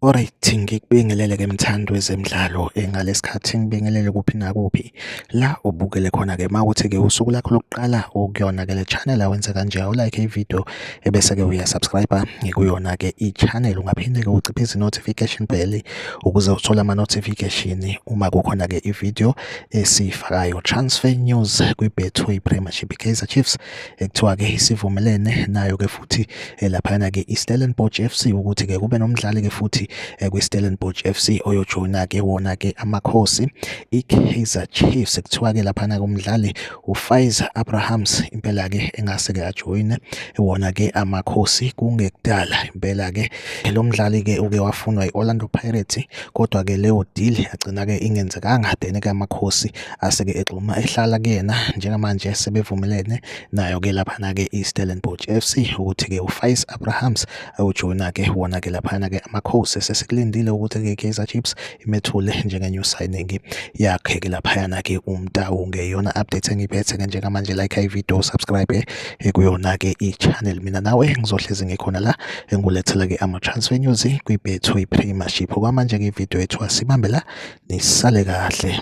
Alright ngikubingelele ke mthandi wezemidlalo ngalesikhathi ngibingelele kuphi nakuphi la ubukele khona ke mawuthi ke usuku lakho lokuqala ukuyona ke le channel awenze kanje awulike ivideo ebese-ke uyasubscribe ngikuyona-ke i-channel ungaphinde-ke uciphise i-notification bell ukuze uthole ama-notification uma kukhona-ke i-video esiyifakayo transfer news kwi-betway premiership i-kaizer chiefs ekuthiwa-ke isivumelene nayo-ke futhi eh, laphayana-ke i-stellenbosch f c ukuthi-ke kube nomdlali-ke futhi eh, kwi-stellenbosch f c oyojoyina-ke wona-ke amakhosi i-kaizer chiefs kuthiwa-ke laphana-ke umdlali uFaiz Abrahams impela ke engase ke ajoyine wona ke amakhosi kungekudala impela ke lo mdlali ke uke wafunwa i-Orlando Pirates kodwa ke leyo deal yagcina ke ingenzekanga then ke amakhosi ase ke egxuma ehlala kuyena njengamanje sebevumelene nayo ke laphana ke iStellenbosch FC ukuthi ke uFaiz Abrahams ayojoyina ke wona ke laphana ke amakhosi sesikulindile ukuthi ke Kaizer Chiefs imethule njenge new signing yakhe ke laphayana ke umtawu ngeyona update engiphethe ke njengamanje like i video subscribe eh, kuyona ke i channel mina nawe ngizohlezi ngikhona la engulethela ke ama transfer news kwi Betway Premiership okwamanje ke video yethu asibambe la nisale kahle